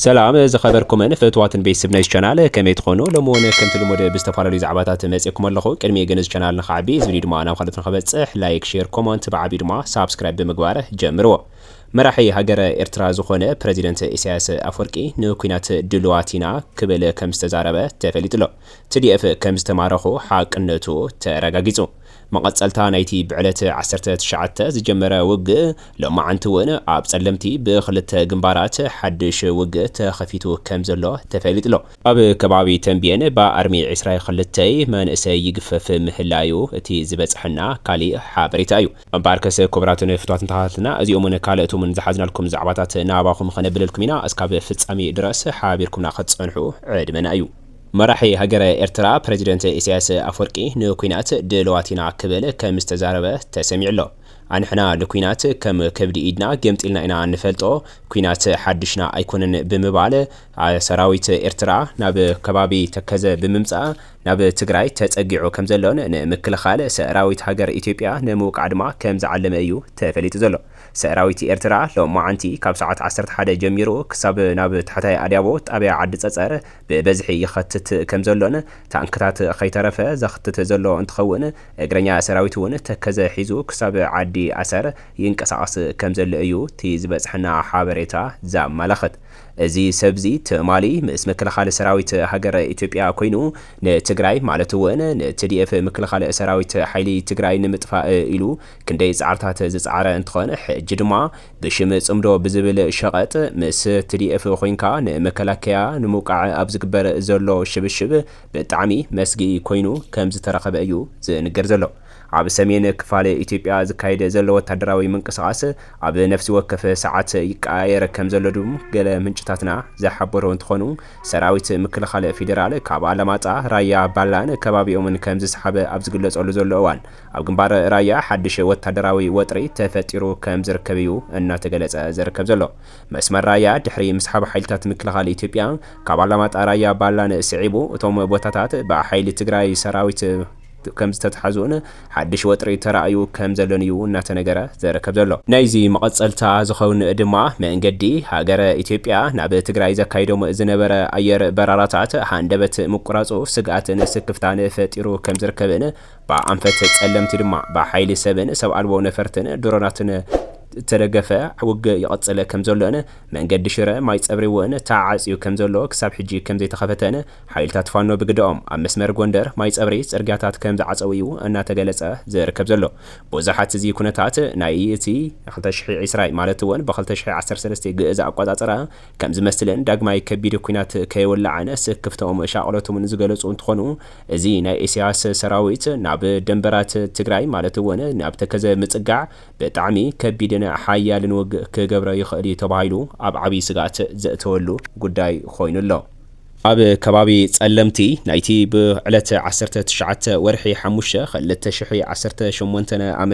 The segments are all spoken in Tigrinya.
ሰላም ዝከበርኩምን ፍትዋትን ቤትስብ ናይዝ ቻናል ከመይ ትኮኑ ሎሚ ውን ከምቲ ልሙድ ብዝተፋላለዩ ዛዕባታት መጼኩም ኣለኩ ቅድሚኡ ግን እዚ ቻናል ንክዓቢ እዚ ቪድዩ ድማ ናብ ካልኦት ንክበጽሕ ላይክ ሼር ኮሞንት ብዓቢኡ ድማ ሳብስክራይብ ብምግባር ጀምርዎ መራሒ ሃገረ ኤርትራ ዝኮነ ፕረዚደንት ኢሳያስ ኣፍወርቂ ንኩናት ድሉዋት ኢና ክብል ከምዝተዛረበ ተፈሊጡ ኣሎ ትዲኤፍ ከምዝተማረኩ ሓቅነቱ ተረጋጊጹ መቐጸልታ ናይቲ ብዕለት ዓሰርተ ትሽዓተ ዝጀመረ ውግእ ሎማዕንቲ እውን ኣብ ጸለምቲ ብክልተ ግንባራት ሓድሽ ውግእ ተኸፊቱ ከምዘሎ ተፈሊጡ'ሎ። ኣብ ከባቢ ተምቤን ብኣርሚ ዕስራ ክልተይ መንእሰይ ይግፈፍ ምህላዩ እቲ ዝበጸሐና ካሊእ ሓበሬታ እዩ። እምበኣርከስ ክቡራትን ፍቱዋትን ተኸታተልትና እዚኦምን ካልእቶምን ዝሓዝናልኩም ዛዕባታት ናባኹም ኸነብለልኩም ኢና እስካብ ፍጻሜ ድረስ ሓቢርኩምና ክትጸንሑ ዕድመና እዩ። መራሒ ሃገረ ኤርትራ ፕረዚደንት ኢሳያስ ኣፍወርቂ ንኲናት ድልዋት ኢና ክብል ከም ዝተዛረበ ተሰሚዑ ኣሎ። ኣንሕና ንኲናት ከም ከብዲ ኢድና ገምጢልና ኢና ንፈልጦ፣ ኲናት ሓድሽና ኣይኮነን ብምባል ሰራዊት ኤርትራ ናብ ከባቢ ተከዘ ብምምጻእ ናብ ትግራይ ተጸጊዑ ከም ዘሎን ንምክልኻል ሰራዊት ሃገር ኢትዮጵያ ንምውቃዕ ድማ ከም ዝዓለመ እዩ ተፈሊጡ ዘሎ። ሰራዊት ኤርትራ ሎማዕንቲ ካብ ሰዓት ዓሰርተ ሓደ ጀሚሩ ክሳብ ናብ ታሕታይ ኣድያቦ ጣብያ ዓዲ ጸጸር ብበዝሒ ይኸትት ከምዘሎን ታንክታት ከይተረፈ ዘኽትት ዘሎ እንትኸውን እግረኛ ሰራዊት እውን ተከዘ ሒዙ ክሳብ ዓዲ ኣሰር ይንቀሳቐስ ከምዘሎ እዩ እቲ ዝበፅሐና ሓበሬታ ዘመላኽት። እዚ ሰብዚ ትማሊ ምስ ምክልኻል ሰራዊት ሃገረ ኢትዮጵያ ኮይኑ ንትግራይ ማለት እውን ንትዲኤፍ ምክልኻል ሰራዊት ሓይሊ ትግራይ ንምጥፋእ ኢሉ ክንደይ ፃዕርታት ዝፀዓረ እንትኾን ሕጂ ድማ ብሽም ጽምዶ ብዝብል ሸቐጥ ምስ TDF ኮይንካ ንመከላከያ ንምውቃዕ ኣብ ዝግበር ዘሎ ሽብሽብ ብጣዕሚ መስግኢ ኮይኑ ከምዝተረኸበ እዩ ዝንገር ዘሎ። ኣብ ሰሜን ክፋል ኢትዮጵያ ዝካየድ ዘሎ ወታደራዊ ምንቅስቓስ ኣብ ነፍሲ ወከፍ ሰዓት ይቀያየር ከምዘሎ ድም ገለ ምንጭታትና ዝሓበሩ እንትኾኑ ሰራዊት ምክልኻል ፌዴራል ካብ ኣላማጣ፣ ራያ፣ ባላን ከባቢኦምን ከምዝሰሓበ ኣብ ዝግለፀሉ ዘሎ እዋን ኣብ ግንባር ራያ ሓድሽ ወታደራዊ ወጥሪ ተፈጢሩ ከም ዝርከብ እዩ እናተገለፀ ዝርከብ ዘሎ። መስመር ራያ ድሕሪ ምስሓብ ሓይልታት ምክልኻል ኢትዮጵያ ካብ ኣላማጣ ራያ ባላን ስዒቡ እቶም ቦታታት ብሓይሊ ትግራይ ሰራዊት ከም ዝተትሓዙን ሓድሽ ወጥሪ ተራእዩ ከም ዘሎን እዩ እናተነገረ ዝርከብ ዘሎ። ናይዚ መቐፀልታ ዝኸውን ድማ መንገዲ ሃገረ ኢትዮጵያ ናብ ትግራይ ዘካይዶም ዝነበረ ኣየር በራራታት ሃንደበት ምቁራፁ ስግኣትን ስክፍታን ፈጢሩ ከም ዝርከብን ብኣንፈት ጸለምቲ ድማ ብሓይሊ ሰብን ሰብ ኣልቦ ነፈርትን፣ ድሮናትን፣ እተደገፈ ውግእ ይቕጽል ከም ዘሎን መንገዲ ሽረ ማይጸብሪ'ውን ተዓጽዩ ከም ዘሎ ክሳብ ሕጂ ከም ዘይተኸፈተን ሓይልታት ፋኖ ብግደኦም ኣብ መስመር ጎንደር ማይጸብሪ ጽርግያታት ከም ዝዓጸዉ'ዩ እናተገለጸ ዝርከብ ዘሎ። ብዙሓት እዚ ኩነታት ናይ እቲ። ክልተ ሽሕን ዕስራን ማለት'ውን ብ ክልተ ሽሕን ዓሰርተ ሰለስተን ግእዝ ኣቆጻጽራ ከም ዝመስለን ዳግማይ ከቢድ ኲናት ከይወላዕን ስክፍተኦም ሻቕሎቶምን ዝገለፁ እንትኾኑ እዚ ናይ ኢሳያስ ሰራዊት ናብ ደንበራት ትግራይ ማለት እውን ናብ ተከዘ ምፅጋዕ ብጣዕሚ ከቢድን ሓያልን ውግእ ክገብረ ይኽእል እዩ ተባሂሉ ኣብ ዓብይ ስግኣት ዘእተወሉ ጉዳይ ኾይኑ ኣሎ። ኣብ ከባቢ ፀለምቲ ናይቲ ብዕለት ዓሰርተ ትሽዓተ ወርሒ ሓሙሽተ ክልተ ሽሕ ዓሰርተ ሸሞንተ ዓ.ም።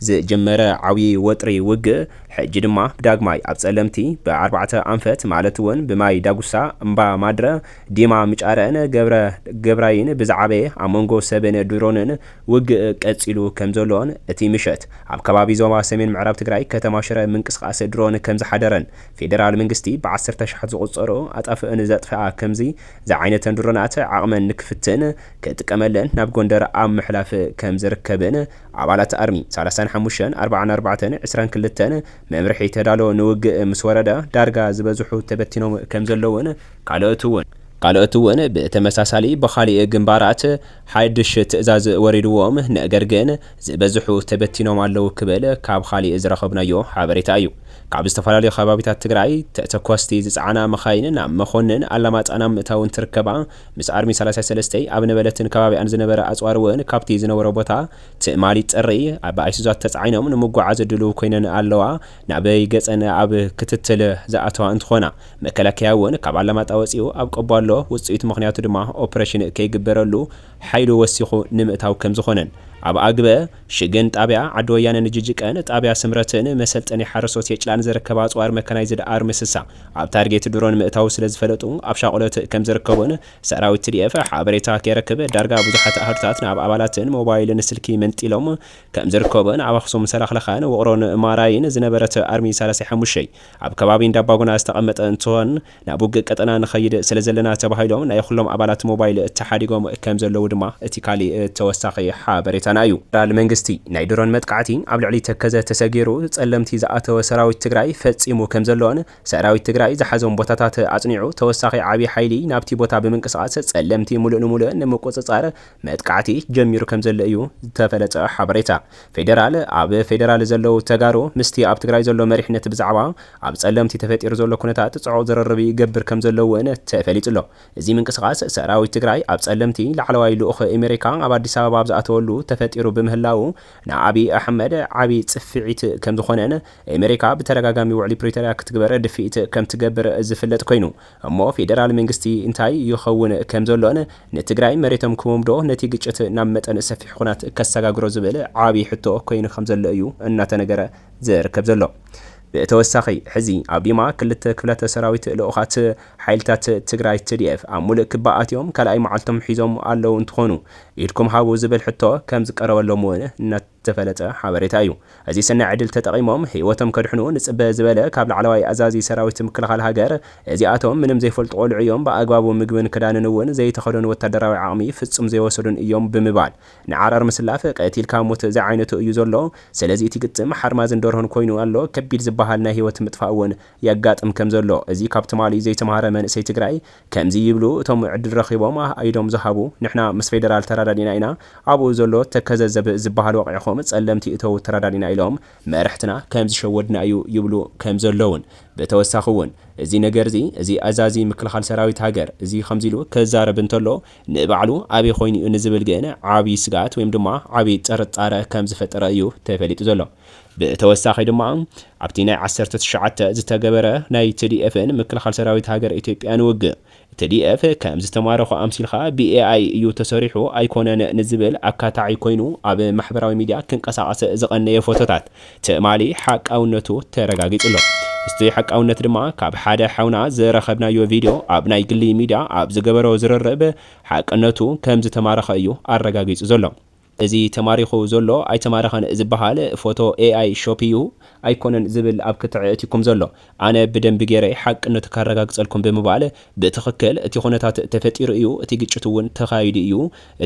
ዝጀመረ ዓብዪ ወጥሪ ውግእ ሕጂ ድማ ዳግማይ ኣብ ፀለምቲ ብኣርባዕተ ኣንፈት ማለት እውን ብማይ ዳጉሳ፣ እምባ ማድረ፣ ዲማ ምጫረን ገብረ ገብራይን ብዝዓበየ ኣብ መንጎ ሰብን ድሮንን ውግእ ቀፂሉ ከምዘሎን እቲ ምሸት ኣብ ከባቢ ዞባ ሰሜን ምዕራብ ትግራይ ከተማ ሽረ ምንቅስቓስ ድሮን ከምዝሓደረን ፌደራል መንግስቲ ብዓሰርተሽሓት ዝቑፀሩ ኣጣፍእን ዘጥፈኣ ከምዚ ዝዓይነተን ድሮናት ዓቕመን ንክፍትን ክጥቀመለን ናብ ጎንደር ኣብ ምሕላፍ ከምዝርከብን ኣባላት ኣርሚ ሰላሳን ሓሙሽተን ኣርብዓን ኣርባዕተን ዕስራን ክልተን መምርሒ ተዳሎ ንውግእ ምስ ወረደ ዳርጋ ዝበዝሑ ተበቲኖም ከም ዘለዉን ካልኦት እውን ካልኦት እውን ብተመሳሳሊ ብኻሊእ ግንባራት ሓድሽ ትእዛዝ ወሪድዎም ነገር ግን ዝበዝሑ ተበቲኖም ኣለዉ ክብል ካብ ኻሊእ ዝረኸብናዮ ሓበሬታ እዩ ካብ ዝተፈላለዩ ከባቢታት ትግራይ ተተኮስቲ ዝፀዓና መኻይን ናብ መኾንን ኣላማጣ ናብ ምእታው እንትርከባ ምስ ኣርሚ ሰላሳ ሰለስተ ኣብ ነበለትን ከባቢኣን ዝነበረ ኣጽዋር እውን ካብቲ ዝነበሮ ቦታ ትማሊ ጥሪ ብኣይሱዛት ተጻዒኖም ንምጉዓዝ ድሉው ኮይነን ኣለዋ። ናበይ ገጸን ኣብ ክትትል ዝኣተዋ እንትኾና መከላከያ እውን ካብ ኣላማጣ ወጺኡ ኣብ ቆቦ ኣሎ። ውጽኢቱ ምኽንያቱ ድማ ኦፕረሽን ከይግበረሉ ሓይሉ ወሲኹ ንምእታው ከምዝኾነን ኣብ ኣግበ ሽግን ጣብያ ዓዲ ወያነ ንጅጅቀን ጣብያ ስምረትን መሰልጠኒ ሓረስቶት የጭላን ዘርከባ ኣፅዋር መካናይዝድ ኣርሚ ስሳ ኣብ ታርጌት ድሮን ምእታዉ ስለዝፈለጡ ኣብ ሻቁሎት ከምዝርከቡን ሰራዊት ትዲኤፍ ሓበሬታ ከይረክብ ዳርጋ ብዙሓት ኣሃዱታት ናብ ኣባላትን ሞባይልን ስልኪ መንጢሎም ከምዝርከቡን ኣብ ኣክሱም ሰላክላካን ውቅሮን ማራይን ዝነበረት ኣርሚ ሰላሳ ሓሙሽተ ኣብ ከባቢ እንዳባጉና ዝተቀመጠ እንትኮን ናብ ውግእ ቀጠና ንኸይድ ስለዘለና ተባሂሎም ናይ ኹሎም ኣባላት ሞባይል ተሓዲጎም ከምዘለዉ ድማ እቲ ካሊእ ተወሳኺ ሓበሬታና እዩ። ፌደራል መንግስቲ ናይ ድሮን መጥቃዕቲ ኣብ ልዕሊ ተከዘ ተሰጊሩ ፀለምቲ ዝኣተወ ሰራዊት ትግራይ ፈፂሙ ከምዘሎን ሰራዊት ትግራይ ዝሓዞም ቦታታት ኣፅኒዑ ተወሳኺ ዓብዪ ሓይሊ ናብቲ ቦታ ብምንቅስቓስ ፀለምቲ ሙሉእ ንሙሉእ ንምቁፅፃር መጥቃዕቲ ጀሚሩ ከምዘሎ እዩ ዝተፈለጠ ሓበሬታ ፌደራል። ኣብ ፌደራል ዘለዉ ተጋሩ ምስቲ ኣብ ትግራይ ዘሎ መሪሕነት ብዛዕባ ኣብ ፀለምቲ ተፈጢሩ ዘሎ ኩነታት ፅዑቕ ዝርርብ ይገብር ከምዘሎ እውን ተፈሊጡ ኣሎ። እዚ ምንቅስቓስ ሰራዊት ትግራይ ኣብ ፀለምቲ ላዕለዋይ ልኡኽ ኤሜሪካ ኣብ ኣዲስ ኣበባ ኣብ ዝኣተወሉ ተፈጢሩ ብምህላዉ ንኣብይ ኣሕመድ ዓብዪ ፅፍዒት ከምዝኾነን ኤሜሪካ ብተደጋጋሚ ውዕሊ ፕሪቶርያ ክትግበር ድፍኢት ከምትገብር ዝፍለጥ ኮይኑ እሞ ፌደራል መንግስቲ እንታይ ይኸውን ከምዘሎን ንትግራይ መሬቶም ክህቦምዶ ነቲ ግጭት ናብ መጠን ሰፊሕ ኹናት ከሰጋግሮ ዝብል ዓብይ ሕቶ ኮይኑ ከምዘሎ እዩ እናተነገረ ዝርከብ ዘሎ። ብተወሳኺ ሕዚ ኣብ ዲማ ክልተ ክፍላተ ሰራዊት ልኡኻት ሓይልታት ትግራይ tdf ኣብ ሙሉእ ክባ ኣትዮም ካልኣይ መዓልቶም ሒዞም ኣለው እንትኾኑ ኢድኩም ሃቡ ዝብል ሕቶ ከምዝቀረበሎም እውን ዝተፈለጠ ሓበሬታ እዩ። እዚ ሰናይ ዕድል ተጠቒሞም ህይወቶም ከድሕኑ ንጽበ ዝበለ ካብ ላዕለዋይ ኣዛዚ ሰራዊት ምክልኻል ሃገር፣ እዚኣቶም ምንም ዘይፈልጡ ቆልዑ እዮም፣ ብኣግባቡ ምግብን ክዳንን እውን ዘይተኸደኑ ወታደራዊ ዓቕሚ ፍጹም ዘይወሰዱን እዮም ብምባል ንዓራር ምስላፍ ቀቲልካ ሞት ዝዓይነቱ እዩ ዘሎ፣ ስለዚ እቲ ግጥም ሓርማዝን ደርሆን ኮይኑ ኣሎ፣ ከቢድ ዝበሃል ናይ ህይወት ምጥፋእ እውን የጋጥም ከምዘሎ እዚ ካብ ትማሊ ዘይተማህረ መንእሰይ ትግራይ ከምዚ ይብሉ እቶም ዕድል ረኺቦም ኣኣ ኢዶም ዝሃቡ፣ ንሕና ምስ ፌደራል ተራዳዲእና ኢና፣ ኣብኡ ዘሎ ተከዘ ዘብእ ዝበሃል ወቒዕኹም ጸለምቲ እተዉ ተራዳዲእና ኢሎም መርሕትና ከም ዝሸወድና እዩ ይብሉ ከም ዘለዉን ብተወሳኺ ውን እዚ ነገርዚ እዚ ኣዛዚ ምክልኻል ሰራዊት ሃገር እዚ ከምዚ ኢሉ ክዛረብ እንተሎ ንባዕሉ ኣበይ ኮይኑ'ዩ ንዝብል ግን ዓቢ ስግኣት ወይም ድማ ዓቢ ጥርጣረ ከም ዝፈጠረ እዩ ተፈሊጡ ዘሎ። ብተወሳኺ ድማ ኣብቲ ናይ ዓሰርተ ትሽዓተ ዝተገበረ ናይ ትዲኤፍን ምክልኻል ሰራዊት ሃገረ ኢትዮጵያን ውግእ ትዲኤፍ ከም ዝተማረኹ ኣምሲልካ ብኤኣይ እዩ ተሰሪሑ ኣይኮነን ንዝብል ኣካታዒ ኮይኑ ኣብ ማሕበራዊ ሚድያ ክንቀሳቐስ ዝቐነየ ፎቶታት ትማሊ ሓቃውነቱ ተረጋጊፁ'ሎ። ምስቲ ሓቃውነት ድማ ካብ ሓደ ሓውና ዝረኸብናዮ ቪድዮ ኣብ ናይ ግሊ ሚድያ ኣብ ዝገበሮ ዝርርብ ሓቅነቱ ከም ዝተማረኸ እዩ ኣረጋጊፁ ዘሎ። እዚ ተማሪኹ ዘሎ ኣይተማረኸን ዝባሃል ፎቶ AI ሾፕ ኢዩ ኣይኮነን ዝብል ኣብ ክትዕ ኣእቲኩም ዘሎ ኣነ ብደንቢ ጌረ ሓቅነቱ ካረጋግጸልኩም ብምባል ብትኽክል እቲ ኩነታት ተፈጢሩ ኢዩ እቲ ግጭት ውን ተኻይዱ ኢዩ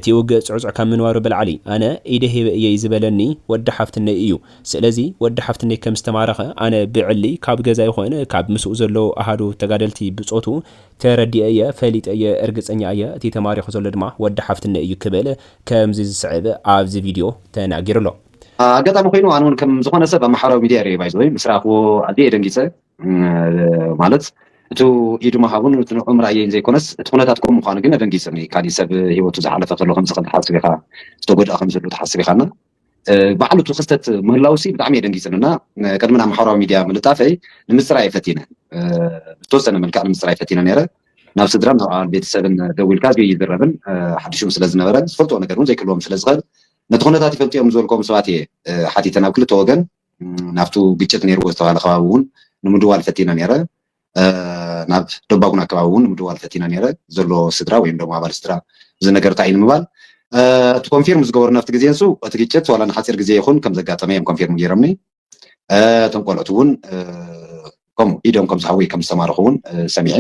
እቲ ውግእ ጽዕጹዕ ካብ ምንባሩ ብላዕሊ ኣነ ኢደ ሂበ ኢየ ዝበለኒ ወዲ ሓፍትነይ ኢዩ ስለዚ ወዲ ሓፍትነይ ከም ዝተማረኸ ኣነ ብዕሊ ካብ ገዛ ይኹን ካብ ምስኡ ዘለዉ ኣሃዱ ተጋደልቲ ብጾቱ ተረዲኤ ኢየ ፈሊጠ ኢየ እርግጸኛ ኢየ እቲ ተማሪኹ ዘሎ ድማ ወዲ ሓፍትነይ ኢዩ ክብል ከምዚ ዝስዕብ ኣብዚ ቪድዮ ተናጊሩ ኣሎ። ኣጋጣሚ ኮይኑ ኣነ ውን ከም ዝኮነ ሰብ ኣብ ማሕበራዊ ሚድያ ሪኤዮ ባይዘወይ ምስ ረኣክዎ ኣዝየ እየ ደንጊፀ ማለት እቱ ኢዱ ምሃቡን እቱ ንዕኡ ምርኣየይን ዘይኮነስ እቲ ኩነታት ከምኡ ምኳኑ ግን ኣደንጊፅኒ ካሊእ ሰብ ሂወቱ ዝሓለፈ ከሎ ከምዚ ከምዚ ሓስብ ኢካ ዝተጎድኣ ከምዚ ኣሎ ትሓስብ ኢካ እና ባዕሉ እቲ ክስተት ምህላውሲ ብጣዕሚ እየ ደንጊፅኒ እና ቅድሚ ናብ ማሕበራዊ ሚድያ ምልጣፈይ ንምፅራይ ፈቲነ ብተወሰነ መልክዕ ንምፅራይ ፈቲነ ነይረ ናብ ስድራን ናብ ኣባል ቤተሰብን ደዊልካ እዝጊ ይዝረብን ሓዲሹም ስለ ዝነበረ ዝፈልጥዎ ነገር እውን ዘይክልዎም ስለ ዝኽእል ነቲ ኩነታት ይፈልጡ እዮም ዝበልክዎም ሰባት እየ ሓቲተ ናብ ክልተ ወገን ናብቱ ግጭት ነይርዎ ዝተባሃለ ከባቢ እውን ንምድዋል ፈቲነ ነይረ ናብ ደባጉን ኣከባቢ እውን ምድዋል ፈቲነ ነይረ ዘሎ ስድራ ወይም ደሞ ኣባል ስድራ እዚ ነገር እንታይ እዩ ንምባል እቲ ኮንፊርም ዝገበሩ ናብቲ ግዜ ንሱ እቲ ግጭት ዋላ ንሓፂር ግዜ ይኹን ከም ዘጋጠመ እዮም ኮንፊርም ገይሮምኒ እቶም ቆልዑት እውን ከምኡ ኢዶም ከም ዝሃቡ ከም ዝተማረኹ እውን ሰሚዐ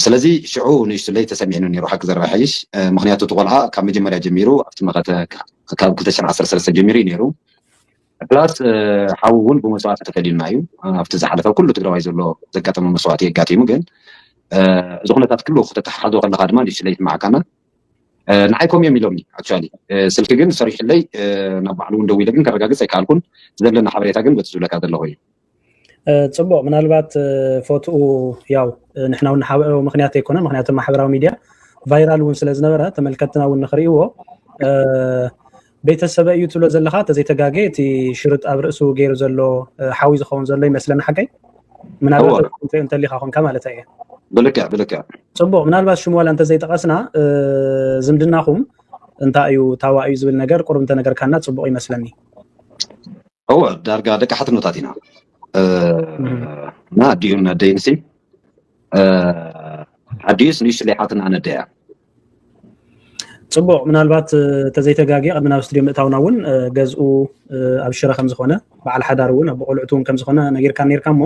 ስለዚ ሽዑ ንእሽቱለይ ተሰሚዕኒ ነይሩ ሓቂ ዘረባ ሓይሽ ምክንያቱ እቲ ቆልዓ ካብ መጀመርያ ጀሚሩ ኣብቲ መኸተ ካብ 213 ጀሚሩ እዩ ነይሩ ፕላስ ሓዉ ዉን ብመስዋእቲ ተፈሊዩና እዩ ኣብቲ ዝሓለፈ ኩሉ ትግራዋይ ዘሎ ዘጋጠሞ መስዋእቲ ኣጋጢሙ ግን እዚ ኩነታት ኩሉ ክተተሓሕዞ ከለካ ድማ ንእሽተይ ኣይስማዓካና ንዓይ ኮም እዮም ኢሎምኒ ኣክቹዋሊ ስልኪ ግን ሰሪሑለይ ናብ ባዕሉ ዉን ደዊለ ግን ከረጋግፅ ኣይከኣልኩን ዘለኒ ሓበሬታ ግን በቲ ዝብለካ ዘለኩ እዩ ፅቡቅ ምናልባት ፎትኡ ያው ንሕና እውን ንሓብኦ ምክንያት ኣይኮነ ምክንያቱ ማሕበራዊ ሚድያ ቫይራል እውን ስለ ዝነበረ ተመልከትና እውን ንክርእይዎ ቤተሰበ እዩ ትብሎ ዘለካ ተዘይተጋገ እቲ ሽርጥ ኣብ ርእሱ ገይሩ ዘሎ ሓዊ ዝኸውን ዘሎ ይመስለኒ ሓቀይ ምናልባት እንተሊካ ኮንካ ማለት እየ ብልክዕ ብልክዕ ፅቡቅ ምናልባት ሽሙ ዋላ እንተዘይጠቀስና ዝምድናኹም እንታይ እዩ ታዋ እዩ ዝብል ነገር ቁርብ እንተነገርካና ፅቡቅ ይመስለኒ እወ ዳርጋ ደቂ ሓትኖታት ኢና እና ኣዲኡ ነደይ ንሲ ኣዲኡስ ንእሽቱ ለይሓትና ነደያ ፅቡቅ ምናልባት ተዘይተጋጊ ቅድሚ ናብ ስቱድዮ ምእታውና እውን ገዝኡ ኣብ ሽረ ከምዝኮነ በዓል ሓዳር እውን ኣብ ቆልዕቱ እውን ከምዝኮነ ነጊርካ ነርካ እሞ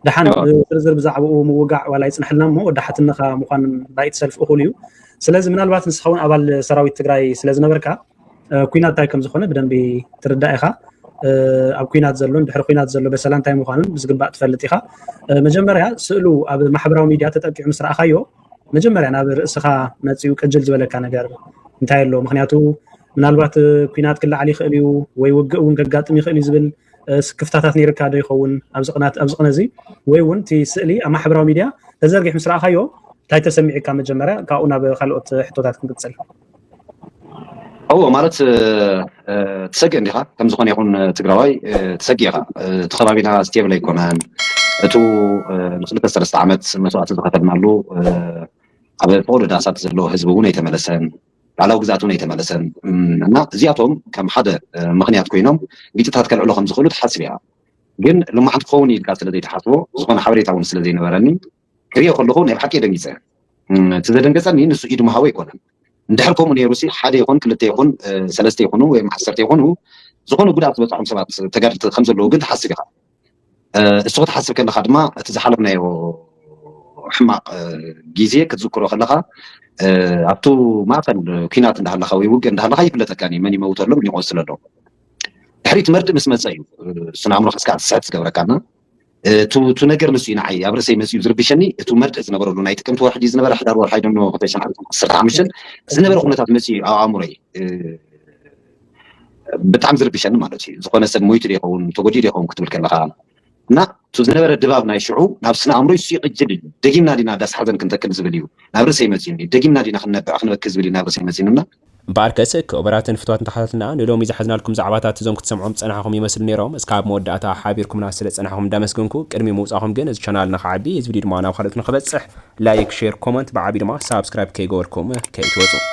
ድሓን ዝርዝር ብዛዕባኡ ምውጋዕ ዋላ ይፅንሐልና እሞ ወዲ ሓትነካ ምኳን ባይቲ ሰልፊ እኩል እዩ ስለዚ ምናልባት ንስካ እውን ኣባል ሰራዊት ትግራይ ስለዝነበርካ ኩናት እንታይ ከም ዝኾነ ብደንቢ ትርዳእ ኢኻ ኣብ ኩናት ዘሎን ድሕሪ ኩናት ዘሎ በሰላ እንታይ ምዃኑን ብዝግባእ ትፈልጥ ኢኻ መጀመርያ ስእሉ ኣብ ማሕበራዊ ሚድያ ተጠቂዑ ምስ ረኣኻዮ መጀመርያ ናብ ርእስኻ መፅኡ ቅጅል ዝበለካ ነገር እንታይ ኣሎ ምክንያቱ ምናልባት ኩናት ክለዓል ይኽእል እዩ ወይ ውግእ እውን ከጋጥም ይኽእል እዩ ዝብል ስክፍታታት ነይርካ ዶ ይኸውን ኣብዚ ቅናት ኣብዚ ቅነ እዚ ወይ እውን እቲ ስእሊ ኣብ ማሕበራዊ ሚድያ ተዘርጊሕ ምስ ረኣኻዮ እንታይ ተሰሚዑካ መጀመርያ ካብኡ ናብ ካልኦት ሕቶታት ክንቅፅል እወ ማለት ትሰግእ እንዲኻ ከም ዝኾነ ይኹን ትግራዋይ ትሰግእ ኢኻ እቲ ከባቢና ስቴብል ኣይኮነን እቱ ንክልተ ሰለስተ ዓመት መስዋእቲ ዝኸፈልናሉ ኣብ ፈቅዶ ዳሳት ዘሎ ህዝቢ እውን ኣይተመለሰን ባዕላዊ ግዝኣት እውን ኣይተመለሰን እና እዚኣቶም ከም ሓደ ምኽንያት ኮይኖም ግጭታት ከልዕሎ ከም ዝኽእሉ ትሓስብ ኢኻ ግን ልማዓት ክኸውን ኢልካ ስለ ዘይትሓስቦ ዝኾነ ሓበሬታ እውን ስለ ዘይነበረኒ ክሪኦ ከለኩ ናይ ብሓቂ ደንጊጸ እቲ ዘደንገጸኒ ንሱ ኢድ ምሃቡ ኣይኮነን እንድሕር ከምኡ ኔሩሲ ሓደ ይኩን ክልተ ይኩን ሰለስተ ይኩኑ ወይም ዓሰርተ ይኩኑ ዝኮነ ጉድኣት ዝበጽሖም ሰባት ተጋድልቲ ከም ዘለዉ ግን ትሓስብ ኢካ እሱ ክትሓስብ ከለካ ድማ እቲ ዝሓለፍናዮ ሕማቅ ግዜ ክትዝክሮ ከለካ ኣብቱ ማእከል ኩናት እንዳሃለካ ወይ ውግእ እንዳሃለካ ይፍለጠካ መን ይመውተሎም ይቆስለሎም ድሕሪት መርድእ ምስ መጸ እዩ ስነ ኣእምሮካ እስካ ክትስሕት ዝገብረካና እቱ ነገር ንሱ እዩ ንዓይ ኣብ ርእሰይ መፂኡ ዝርብሸኒ እቱ መርድእ ዝነበረሉ ናይ ጥቅምቲ ወርሒ ድዩ ዝነበረ ሕዳር ወርሒ ኣይደኖ ክልተ ሽሕን ዓሰርተ ዓሰርተ ሓሙሽተን ዝነበረ ኩነታት መፂኡ እዩ ኣብ ኣእምሮይ ብጣዕሚ ዝርብሸኒ ማለት እዩ ዝኾነ ሰብ ሞይቱ ዶ ይኸውን ተጎዲኡ ዶ ይኸውን ክትብል ከለኻ እና እቱ ዝነበረ ድባብ ናይ ሽዑ ናብ ስነ ኣእምሮይ እሱ ይቕጅል እዩ ደጊምና ዲና ዳስ ሓዘን ክንተክል ዝብል እዩ ናብ ርእሰይ መፂኡኒ ደጊምና ዲና ክንነብዕ ክንበኪ ዝብል እዩ ናብ ርእሰይ መፂኡኒ እና እምበኣርከስ ክቡራትን ፍትዋትን ተኸታተልና ንሎሚ ዝሓዝናልኩም ዛዕባታት እዞም ክትሰምዕዎም ዝጸናሕኹም ይመስሉ ኔሮም እስካብ መወዳእታ ሓቢርኩምና ስለ ዝጸናሕኹም እንዳመስገንኩ ቅድሚ ምውጻኹም ግን እዚ ቻናል ንኽዓቢ እዚ ቪድዮ ድማ ናብ ካልኦት ንኽበጽሕ ላይክ ሼር ኮመንት ብዓቢኡ ድማ ሳብስክራይብ ከይገበርኩም ከይትወጹ